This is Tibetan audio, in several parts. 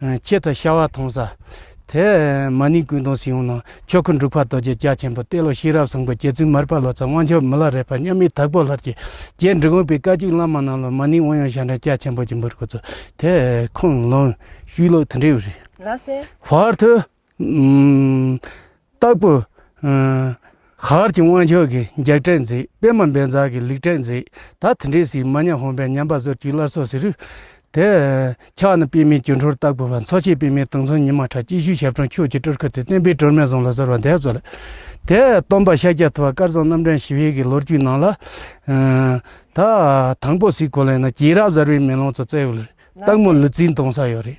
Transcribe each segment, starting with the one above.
ཁྱེད་དང་ཤ་བ་མཐོང་ས། དེ། མ་ནིང་ཀུན་སྟོང་སྲིད་འོང་ནང། ཆོས་འཁོར་འབྲུག་ཕག་རྡོ་རྗེ་རྒྱ་ཆེན་པོ་གཏེར་ལོ་ཤེས་རབ་བཟང་པོ་རྗེ་བཙུན་མར་པ་ལོ་ཙཱ་དབང་ཕྱུག་མི་ལ་རས་པ་མཉམ་མེད་དྭགས་པོ་ལྷར་གྱི་རྒྱས་འབྲིང་དབང་པོའི་བཀའ་བརྒྱུད་བླ་མ་རྣམས་ལ་མ་ནིང་དབང་ཡོན་ཞབས་འདྲེན་རྒྱ་ཆེན་པོ་རྒྱུན་འབུལ་དགོས་ཚུལ། དེ། ཁུངས་ལུང། ཤུལ་ལུགས་དུ་འབྲེལ་བའི་རིགས། ལ་སེ། བར་དུ། སྟག་པོ། ཤར་གྱི་དབང་ཕྱུག་གིས་འཇག་ཁྲལ་མཛད། པད་མ་འབེལ་འཛག་གིས་ལུག་ཁྲལ་མཛད། ད་དེ་འདྲའི་སྲིད་མ་ཉམས་ཧོམ་པའི་ཉམས་པ་ཟོར་གྱིས་སླར་སོགས་ཟེར། དེ། ཕྱག་ན་པད་མའི་གྱོ་འཕྲོར་སྟག་པོ་བ་འཚོ་བྱེད་པད་མའི་དུང་མཚོན་ཉི་མ་ཁྲ་སྐྱིད་ཤུལ་ཞབས་དྲུང་ཁྱོད་ཀྱི་སྤྲུལ་སྐུ་དེ་བསྟན་པའི་སྒྲོན་མེ་ཟུང་ལ་གཟུར་བ་འདས་གསོལ་ལེ། དེ། སྟོན་པ་ཤཱཀྱ་ཐུབ་པ་དཀར་གསུམ་རྣམ་འདྲེན་ཞི་བའི་གི་ལོ་རྒྱུས་ནང་ལ། ད། དང་པོ་སྲིད་གོ་ལའི་ནང་སྐྱེས་རབས་གཟར་བའི་མེ་ལོང་དུ་བསྩལ། སྟག་མོ་ལུས་རྩིས་འདོང་ས་ཡོད་རེད།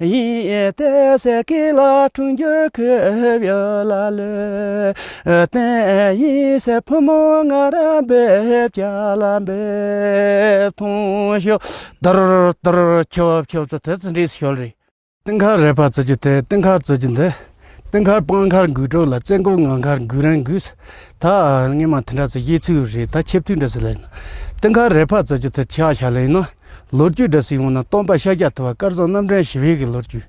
ཡིན་ཏེ་ཟས་ཀྱི་ལ་འཁྲུངས་འགྱུར་ཁུབ་ཡོད་ལ་ལོས་བསྟན། ཡིན་ཟེར་བུ་མོ་ང་རང་འབེབས་བྱ་ལ་འབེབས་ཐོངས་ཤོག། དར་དར་ཁྱོབ་ཁྱོབ་ཚ་ཚ་ཚ་འདྲིས་ཤོལ་རེད། སྟེང་ཁ་རས་པ་བཙོས་རྒྱུ་དེ་སྟེང་ཁ་བཙོས་རྒྱུ་འདི། སྟེང་མཁར་སྤང་མཁར་འགུལ་གྲོགས་ལ་བཙན་སྐོར་ངང་མཁར་འགུལ་རན་འགུལ་ཟེར། ད་སྔོན་མ་དེ་འདྲ་ཚོ་ཡེ་ཚུལ་རེད་ད་ཁྱབ་ཚུལ་འདྲ་ཟེར་ལེ་ན། སྟེང་མཁར་རེ་ཕར་ཙོག་ཅིག་དེར་ཆག་བཞག་ལེ་ན། ལོ་རྒྱུས་འདྲ་ཟིག་འོང་ན་སྟོང་པ་ཤཱཀྱ་ཐུབ་པ་དཀར་བཟང་རྣམ་འདྲེན་ཞི་བའི་གི་ལོ་རྒྱུས།